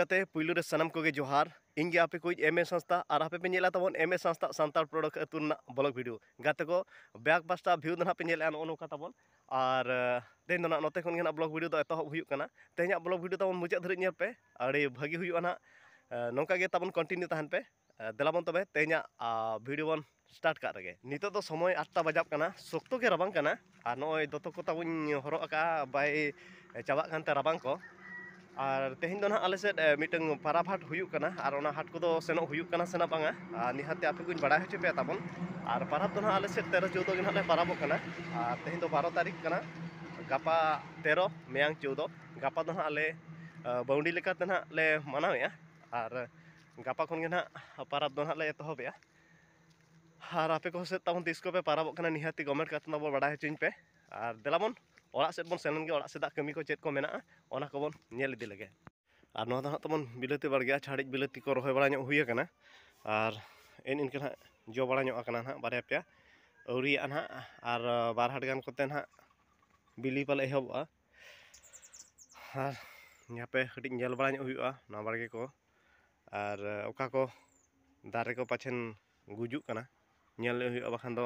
ᱜᱟᱛᱮ ᱯᱩᱭᱞᱩ ᱨᱮ ᱥᱟᱱᱟᱢ ᱠᱚᱜᱮ ᱡᱚᱦᱟᱨ ᱤᱧ ᱜᱮ ᱟᱯᱮ ᱠᱚᱭᱤᱡ ᱮᱢ ᱮ ᱥᱟᱸᱥᱛᱟ ᱟᱨ ᱟᱯᱮ ᱯᱮ ᱧᱮᱞᱟ ᱛᱟᱵᱚᱱ ᱮᱢ ᱮ ᱥᱟᱸᱥᱛᱟ ᱥᱟᱱᱛᱟᱲ ᱯᱨᱚᱰᱚᱠ ᱟᱹᱛᱩ ᱨᱮᱱᱟᱜ ᱵᱞᱚᱜ ᱵᱷᱤᱰᱤᱭᱳ ᱜᱟᱛᱮ ᱠᱚ ᱵᱮᱠ ᱯᱟᱥᱴᱟ ᱵᱷᱤᱭᱩ ᱫᱚ ᱱᱟᱦᱟᱜ ᱯᱮ ᱧᱮᱞᱮᱜᱼᱟ ᱱᱚᱜᱼᱚ ᱱᱚᱝᱠᱟ ᱛᱟᱵᱚᱱ ᱟᱨ ᱛᱮᱦᱮᱧ ᱫᱚ ᱱᱟᱜ ᱱᱚᱛᱮ ᱠᱷᱚᱱ ᱜᱮ ᱱᱟᱜ ᱵᱞᱚᱜᱽ ᱵᱷᱤᱰᱤᱭᱳ ᱫᱚ ᱮᱛᱚᱦᱚᱵ ᱦᱩᱭᱩᱜ ᱠᱟᱱᱟ ᱛᱮᱦᱮᱧᱟᱜ ᱵᱞᱚᱜᱽ ᱵᱷᱤᱰᱤᱭᱳ ᱛᱟᱵᱚᱱ ᱢᱩᱪᱟᱹᱫ ᱫᱷᱟᱹᱨᱤᱡ ᱧᱮᱞ ᱯᱮ ᱟᱹᱰᱤ ᱵᱷᱟᱹᱜᱤ ᱦᱩᱭᱩᱜᱼᱟ ᱱᱟᱜ ᱱᱚᱝᱠᱟ ᱜᱮ ᱛᱟᱵᱚᱱ ᱠᱚᱱᱴᱤᱱᱤᱭᱩ ᱛᱟᱦᱮᱱ ᱯᱮ ᱫᱮᱞᱟ ᱵᱚᱱ ᱛᱚᱵᱮ ᱛᱮᱦᱮᱧᱟᱜ ᱵᱷᱤᱰᱤᱭᱳ ᱵᱚᱱ ᱥᱴᱟᱨᱴ ᱠᱟᱜ ᱨᱮᱜᱮ ᱱᱤᱛᱚᱜ ᱫᱚ ᱥᱚᱢᱚᱭ ᱟᱴᱴᱟ ᱵᱟᱡᱟᱜ ᱠᱟᱱᱟ ᱥᱚᱠᱛᱚ ᱜᱮ ᱨᱟᱵᱟᱝ ᱠᱟᱱᱟ ᱟᱨ ᱱᱚᱜᱼᱚᱭ ᱫᱚᱛᱚ ᱠᱚ ᱛᱟᱵᱚᱧ ᱦᱚᱨᱚᱜ ᱟᱠᱟᱫᱼᱟ ᱵᱟᱭ ᱪᱟᱵᱟᱜ ᱠᱟᱱᱛᱮ ᱨᱟᱵᱟᱝ ᱠᱚ ᱟᱨ ᱛᱮᱦᱮᱧ ᱫᱚ ᱱᱟᱦᱟᱜ ᱟᱞᱮ ᱥᱮᱫ ᱢᱤᱫᱴᱟᱝ ᱯᱟᱨᱟᱵᱽ ᱦᱟᱴ ᱦᱩᱭᱩᱜ ᱠᱟᱱᱟ ᱟᱨ ᱚᱱᱟ ᱦᱟᱴ ᱠᱚᱫᱚ ᱥᱮᱱᱚᱜ ᱦᱩᱭᱩᱜ ᱠᱟᱱᱟ ᱥᱮ ᱵᱟᱝᱟ ᱟᱨ ᱱᱤᱦᱟᱹᱛ ᱟᱯᱮ ᱠᱚᱧ ᱵᱟᱲᱟᱭ ᱦᱚᱪᱚ ᱯᱮᱭᱟ ᱛᱟᱵᱚᱱ ᱟᱨ ᱯᱟᱨᱟᱵᱽ ᱫᱚ ᱱᱟᱦᱟᱜ ᱟᱞᱮ ᱥᱮᱫ ᱛᱮᱨᱚ ᱪᱳᱫᱚ ᱜᱮ ᱱᱟᱦᱟᱜ ᱞᱮ ᱯᱟᱨᱟᱵᱚᱜ ᱠᱟᱱᱟ ᱟᱨ ᱛᱮᱦᱮᱧ ᱫᱚ ᱵᱟᱨᱚ ᱛᱟᱹᱨᱤᱠᱷ ᱠᱟᱱᱟ ᱜᱟᱯᱟ ᱛᱮᱨᱚ ᱢᱮᱭᱟᱝ ᱪᱳᱫᱚ ᱜᱟᱯᱟ ᱫᱚ ᱱᱟᱦᱟᱜ ᱞᱮ ᱵᱟᱹᱣᱰᱤ ᱞᱮᱠᱟᱛᱮ ᱱᱟᱦᱟᱜ ᱞᱮ ᱢᱟᱱᱟᱣᱮᱜᱼᱟ ᱟᱨ ᱜᱟᱯᱟ ᱠᱷᱚᱱ ᱜᱮ ᱱᱟᱦᱟᱜ ᱯᱟᱨᱟᱵᱽ ᱫᱚ ᱱᱟᱦᱟᱜ ᱞᱮ ᱮᱛᱚᱦᱚᱵᱮᱜᱼᱟ ᱟᱨ ᱟᱯᱮ ᱠᱚ ᱥᱮᱫ ᱛᱟᱵᱚᱱ ᱛᱤᱥ ᱠᱚᱯᱮ ᱯᱟᱨᱟᱵᱚᱜ ᱠᱟᱱᱟ ᱱᱤᱦᱟᱹᱛ ᱜᱮ ᱠᱚᱢᱮᱱᱴ ᱠᱟᱛᱮᱫ ᱛᱟᱵᱚᱱ ᱵᱟᱲᱟᱭ ᱦᱚᱪᱚᱧ ᱯᱮ ᱟᱨ ᱫᱮᱞᱟ ᱵᱚᱱ ᱚᱲᱟᱜ ᱥᱮᱫ ᱵᱚᱱ ᱥᱮᱱ ᱞᱮᱱ ᱜᱮ ᱚᱲᱟᱜ ᱥᱮᱫᱟᱜ ᱠᱟᱹᱢᱤ ᱠᱚ ᱪᱮᱫ ᱠᱚ ᱢᱮᱱᱟᱜᱼᱟ ᱚᱱᱟ ᱠᱚᱵᱚᱱ ᱧᱮᱞ ᱤᱫᱤ ᱞᱮᱜᱮ ᱟᱨ ᱱᱚᱣᱟ ᱫᱚ ᱦᱟᱸᱜ ᱛᱟᱵᱚᱱ ᱵᱤᱞᱟᱹᱛᱤ ᱵᱟᱲᱜᱮ ᱪᱷᱟᱹᱲᱤᱡ ᱵᱤᱞᱟᱹᱛᱤ ᱠᱚ ᱨᱚᱦᱚᱭ ᱵᱟᱲᱟ ᱧᱚᱜ ᱦᱩᱭ ᱟᱠᱟᱱᱟ ᱟᱨ ᱮᱱ ᱤᱱᱠᱟᱹ ᱦᱟᱸᱜ ᱡᱚ ᱵᱟᱲᱟ ᱧᱚᱜ ᱟᱠᱟᱱᱟ ᱦᱟᱸᱜ ᱵᱟᱨᱭᱟ ᱯᱮᱭᱟ ᱟᱹᱣᱨᱤᱭᱟᱜᱼᱟ ᱦᱟᱸᱜ ᱟᱨ ᱵᱟᱨ ᱦᱟᱴ ᱜᱟᱱ ᱠᱚᱛᱮ ᱦᱟᱸᱜ ᱵᱤᱞᱤ ᱯᱟᱞᱮ ᱮᱦᱚᱵᱚᱜᱼᱟ ᱟᱨ ᱦᱟᱯᱮ ᱠᱟᱹᱴᱤᱡ ᱧᱮᱞ ᱵᱟᱲᱟ ᱧᱚᱜ ᱦᱩᱭᱩᱜᱼᱟ ᱱᱚᱣᱟ ᱵᱟᱲᱜᱮ ᱠᱚ ᱟᱨ ᱚᱠᱟ ᱠᱚ ᱫᱟᱨᱮ ᱠᱚ ᱯᱟᱪᱷᱮᱱ ᱜᱩᱡᱩᱜ ᱠᱟᱱᱟ ᱧᱮᱞ ᱦᱩᱭᱩᱜᱼᱟ ᱵᱟᱠᱷᱟᱱ ᱫᱚ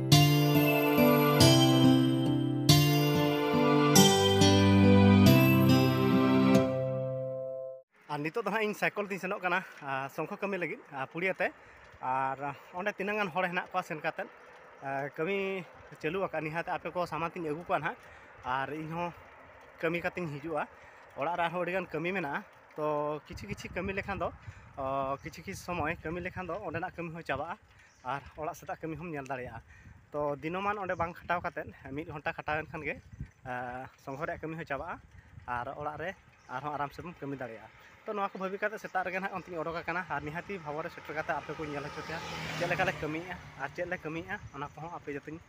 ᱟᱨ ᱱᱤᱛᱚᱜ ᱫᱚ ᱦᱟᱸᱜ ᱤᱧ ᱥᱟᱭᱠᱚᱞ ᱛᱤᱧ ᱥᱮᱱᱚᱜ ᱠᱟᱱᱟ ᱥᱚᱝᱠᱷᱚ ᱠᱟᱹᱢᱤ ᱞᱟᱹᱜᱤᱫ ᱯᱩᱲᱤᱭᱟᱹ ᱛᱮ ᱟᱨ ᱚᱸᱰᱮ ᱛᱤᱱᱟᱹᱜ ᱜᱟᱱ ᱦᱚᱲ ᱦᱮᱱᱟᱜ ᱠᱚᱣᱟ ᱥᱮᱱ ᱠᱟᱛᱮᱫ ᱠᱟᱹᱢᱤ ᱪᱟᱹᱞᱩ ᱟᱠᱟᱫ ᱱᱤᱦᱟᱹᱛ ᱟᱯᱮ ᱠᱚ ᱥᱟᱢᱟᱝ ᱛᱤᱧ ᱟᱹᱜᱩ ᱠᱚᱣᱟ ᱱᱟᱦᱟᱜ ᱟᱨ ᱤᱧ ᱦᱚᱸ ᱠᱟᱹᱢᱤ ᱠᱟᱛᱮᱧ ᱦᱤᱡᱩᱜᱼᱟ ᱚᱲᱟᱜ ᱨᱮ ᱟᱨᱦᱚᱸ ᱟᱹᱰᱤᱜᱟᱱ ᱠᱟᱹᱢᱤ ᱢᱮᱱᱟᱜᱼᱟ ᱛᱚ ᱠᱤᱪᱷᱩ ᱠᱤᱪᱷᱩ ᱠᱟᱹᱢᱤ ᱞᱮᱠᱷᱟᱱ ᱫᱚ ᱠᱤᱪᱷᱩ ᱠᱤᱪᱷᱩ ᱥᱚᱢᱚᱭ ᱠᱟᱹᱢᱤ ᱞᱮᱠᱷᱟᱱ ᱫᱚ ᱚᱸᱰᱮᱱᱟᱜ ᱠᱟᱹᱢᱤ ᱦᱚᱸ ᱪᱟᱵᱟᱜᱼᱟ ᱟᱨ ᱚᱲᱟᱜ ᱥᱮᱫᱟᱜ ᱠᱟᱹᱢᱤ ᱦᱚᱸᱢ ᱧᱮᱞ ᱫᱟᱲᱮᱭᱟᱜᱼᱟ ᱛᱚ ᱫᱤᱱᱚᱢᱟᱱ ᱚᱸᱰᱮ ᱵᱟᱝ ᱠᱷᱟᱴᱟᱣ ᱠᱟᱛᱮᱫ ᱢᱤᱫ ᱜᱷᱚᱱᱴᱟ ᱠᱷᱟᱴᱟᱣ ᱮᱱ ᱠᱷᱟᱱ ᱜᱮ ᱥᱚᱝᱜᱷᱚ ᱨᱮᱭᱟᱜ ᱠᱟᱹᱢᱤ ᱦᱚᱸ ᱪᱟᱵᱟᱜᱼᱟ ᱟᱨ ᱚᱲᱟᱜ ᱨᱮ ᱟᱨᱦᱚᱸ ᱟᱨᱟᱢ ᱥᱮ ᱵᱚᱱ ᱠᱟᱹᱢᱤ ᱫᱟᱲᱮᱭᱟᱜᱼᱟ ᱛᱚ ᱱᱚᱣᱟ ᱠᱚ ᱵᱷᱟᱹᱵᱤ ᱠᱟᱛᱮᱫ ᱥᱮᱛᱟᱜ ᱨᱮᱜᱮ ᱦᱟᱸᱜ ᱚᱱᱛᱮᱧ ᱚᱰᱚᱠ ᱟᱠᱟᱱᱟ ᱟᱨ ᱱᱤᱦᱟᱹᱛᱤ ᱵᱷᱟᱣᱟ ᱨᱮ ᱥᱮᱴᱮᱨ ᱠᱟᱛᱮᱫ ᱟᱯᱮ ᱠᱚᱧ ᱧᱮᱞ ᱦᱚᱪᱚ ᱯᱮᱭᱟ ᱪᱮᱫ ᱞᱮᱠᱟ ᱞᱮ ᱠᱟᱹᱢᱤᱭᱮᱜᱼᱟ ᱟᱨ ᱪᱮᱫ ᱞᱮ ᱠᱟᱹᱢᱤᱭᱮᱜᱼᱟ ᱚᱱᱟ ᱠᱚᱦᱚᱸ ᱟᱯᱮ ᱡᱟᱛᱮᱧ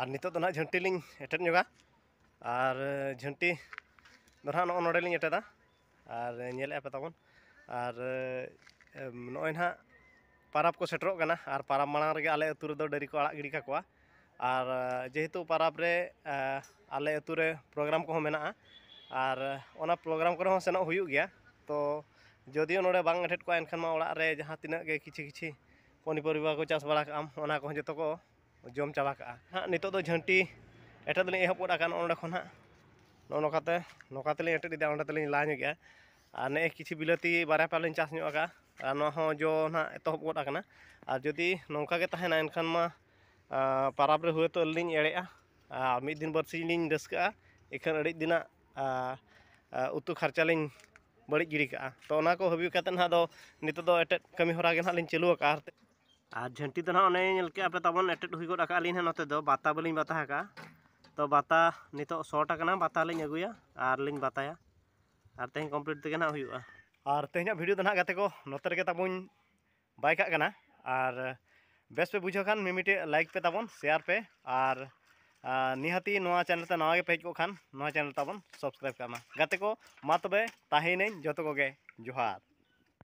ᱟᱨ ᱱᱤᱛᱚᱜ ᱫᱚ ᱱᱟᱦᱟᱜ ᱡᱷᱟᱹᱱᱴᱤ ᱞᱤᱧ ᱮᱴᱮᱫ ᱧᱚᱜᱟ ᱟᱨ ᱡᱷᱟᱹᱱᱴᱤ ᱫᱚ ᱱᱟᱦᱟᱜ ᱱᱚᱜᱼᱚ ᱱᱚᱰᱮ ᱞᱤᱧ ᱮᱴᱮᱫᱟ ᱟᱨ ᱧᱮᱞᱮᱫᱼᱟ ᱯᱮ ᱛᱟᱵᱚᱱ ᱟᱨ ᱱᱚᱜᱼᱚᱭ ᱱᱟᱦᱟᱜ ᱯᱟᱨᱟᱵᱽ ᱠᱚ ᱥᱮᱴᱮᱨᱚᱜ ᱠᱟᱱᱟ ᱟᱨ ᱯᱟᱨᱟᱵᱽ ᱢᱟᱲᱟᱝ ᱨᱮᱜᱮ ᱟᱞᱮ ᱟᱹᱛᱩ ᱨᱮᱫᱚ ᱰᱟᱹᱝᱨᱤ ᱠᱚ ᱟᱲᱟᱜ ᱜᱤᱰᱤ ᱠᱟᱠᱚᱣᱟ ᱟᱨ ᱡᱮᱦᱮᱛᱩ ᱯᱟᱨᱟᱵᱽ ᱨᱮ ᱟᱞᱮ ᱟᱹᱛᱩ ᱨᱮ ᱯᱨᱳᱜᱨᱟᱢ ᱠᱚᱦᱚᱸ ᱢᱮᱱᱟᱜᱼᱟ ᱟᱨ ᱚᱱᱟ ᱯᱨᱳᱜᱨᱟᱢ ᱠᱚᱨᱮ ᱦᱚᱸ ᱥᱮᱱᱚᱜ ᱦᱩᱭᱩᱜ ᱜᱮᱭᱟ ᱛᱚ ᱡᱳᱫᱤᱭᱳ ᱱᱚᱰᱮ ᱵᱟᱝ ᱮᱴᱮᱫ ᱠᱚᱜᱼᱟ ᱮᱱᱠᱷᱟᱱ ᱢᱟ ᱚᱲᱟᱜ ᱨᱮ ᱡᱟᱦᱟᱸ ᱛᱤᱱᱟᱹᱜ ᱜᱮ ᱠᱤᱪᱷᱤ ᱠᱤᱪᱷᱤ ᱯᱚᱱᱤᱯᱚᱨᱤᱵᱟ ᱠᱚ ᱪᱟᱥ ᱵᱟᱲᱟ ᱠᱟᱜᱼᱟᱢ ᱚᱱᱟ ᱠᱚᱦᱚᱸ ᱡᱚᱛᱚ ᱠᱚ ᱡᱚᱢ ᱪᱟᱵᱟ ᱠᱟᱜᱼᱟ ᱦᱟᱸᱜ ᱱᱤᱛᱳᱜ ᱫᱚ ᱡᱷᱟᱹᱱᱴᱤ ᱮᱴᱮᱫ ᱫᱚᱞᱤᱧ ᱮᱦᱚᱵ ᱜᱚᱫ ᱟᱠᱟᱱ ᱱᱚᱸᱰᱮ ᱠᱷᱚᱱ ᱦᱟᱸᱜ ᱱᱚᱜᱼᱚ ᱱᱚᱝᱠᱟ ᱛᱮ ᱱᱚᱝᱠᱟ ᱛᱮᱞᱤᱧ ᱮᱴᱮᱫ ᱮᱫᱟ ᱚᱸᱰᱮ ᱛᱮᱞᱤᱧ ᱞᱟ ᱧᱚᱜᱮᱜᱼᱟ ᱟᱨ ᱱᱮᱜᱼᱮ ᱠᱤᱪᱷᱩ ᱵᱤᱞᱟᱹᱛᱤ ᱵᱟᱨᱭᱟ ᱯᱮᱭᱟ ᱞᱤᱧ ᱪᱟᱥ ᱧᱚᱜ ᱠᱟᱜᱼᱟ ᱟᱨ ᱱᱚᱣᱟ ᱦᱚᱸ ᱡᱚ ᱱᱟᱜ ᱮᱛᱚᱦᱚᱵ ᱜᱚᱫ ᱟᱠᱟᱱᱟ ᱟᱨ ᱡᱩᱫᱤ ᱱᱚᱝᱠᱟ ᱜᱮ ᱛᱟᱦᱮᱱᱟ ᱮᱱᱠᱷᱟᱱ ᱢᱟ ᱯᱟᱨᱟᱵᱽ ᱨᱮ ᱦᱳᱭᱛᱳ ᱟᱹᱞᱤᱧ ᱞᱤᱧ ᱮᱲᱮᱜᱼᱟ ᱟᱨ ᱢᱤᱫ ᱫᱤᱱ ᱵᱟᱨ ᱥᱤᱧ ᱞᱤᱧ ᱨᱟᱹᱥᱠᱟᱹᱜᱼᱟ ᱤᱠᱷᱟᱹᱱ ᱟᱹᱰᱤ ᱫᱤᱱᱟᱜ ᱩᱛᱩ ᱠᱷᱚᱨᱪᱟ ᱞᱤᱧ ᱵᱟᱹᱲᱤᱡ ᱜᱤᱰᱤ ᱠᱟᱜᱼᱟ ᱛᱚ ᱚᱱᱟ ᱠᱚ ᱵᱷᱟᱹᱵᱤ ᱠᱟᱛᱮ ᱦᱟᱸᱜ ᱟᱫᱚ ᱱᱤᱛᱚᱜ ᱫᱚ ᱮᱴᱮᱫ ᱠᱟᱹᱢᱤ ᱦᱚᱨᱟ ᱜᱮ ᱦᱟᱸᱜ ᱞᱤᱧ ᱪᱟᱹᱞᱩ ᱠᱟᱜᱼᱟ ᱟᱨ ᱡᱷᱟᱹᱱᱴᱤ ᱫᱚ ᱦᱟᱸᱜ ᱚᱱᱮ ᱧᱮᱞ ᱠᱮᱜ ᱟᱯᱮ ᱛᱟᱵᱚᱱ ᱮᱴᱮᱫ ᱦᱩᱭ ᱜᱚᱫ ᱠᱟᱜᱼᱟ ᱞᱤᱧ ᱦᱟᱸᱜ ᱱᱚᱛᱮ ᱫᱚ ᱵᱟᱛᱟ ᱵᱟᱹᱞᱤᱧ ᱵᱟᱛᱟ ᱠᱟᱜᱼᱟ ᱛᱚ ᱵᱟᱛᱟ ᱱᱤᱛᱚᱜ ᱥᱚᱴ ᱠᱟᱱᱟ ᱵᱟᱛᱟ ᱞᱤᱧ ᱟᱹᱜᱩᱭᱟ ᱟᱨ ᱞᱤᱧ ᱵᱟᱛᱟᱭᱟ ᱟᱨ ᱛᱮᱦᱮᱧ ᱠᱚᱢᱯᱞᱤᱴ ᱛᱮᱜᱮ ᱦᱟᱸᱜ ᱦᱩᱭᱩᱜᱼᱟ ᱟᱨ ᱛᱮᱦᱮᱧᱟᱜ ᱵᱷᱤᱰᱤᱭᱳ ᱫᱚ ᱦᱟᱸᱜ ᱜᱟᱛᱮ ᱠᱚ ᱱᱚᱛᱮ ᱨᱮᱜᱮ ᱛᱟᱵᱚᱱ ᱵᱟᱭ ᱠᱟᱜ ᱠᱟᱱᱟ ᱟᱨ ᱵᱮᱥ ᱯᱮ ᱵᱩᱡᱷᱟᱹᱣ ᱠᱷᱟᱱ ᱢᱤᱢᱤᱴᱤᱡ ᱞᱟᱭᱤᱠ ᱯᱮ ᱛᱟᱵᱚᱱ ᱥᱮᱭᱟᱨ ᱯᱮ ᱟᱨ ᱱᱤᱦᱟᱹᱛᱤ ᱱᱚᱣᱟ ᱪᱮᱱᱮᱞ ᱛᱮ ᱱᱟᱣᱟ ᱜᱮ ᱯᱮ ᱦᱮᱡ ᱠᱚᱜ ᱠᱷᱟᱱ ᱱᱚᱣᱟ ᱪᱮᱱᱮᱞ ᱛᱟᱵᱚᱱ ᱥᱟᱵᱥᱠᱨᱟᱭᱤᱵ ᱠᱟᱜ ᱢᱟ ᱜᱟᱛᱮ ᱠᱚ ᱢᱟ ᱛᱚᱵᱮ ᱛᱟᱦᱮᱭᱮᱱᱟᱹᱧ ᱡᱚᱛᱚ ᱠᱚᱜᱮ ᱡᱚᱦᱟᱨ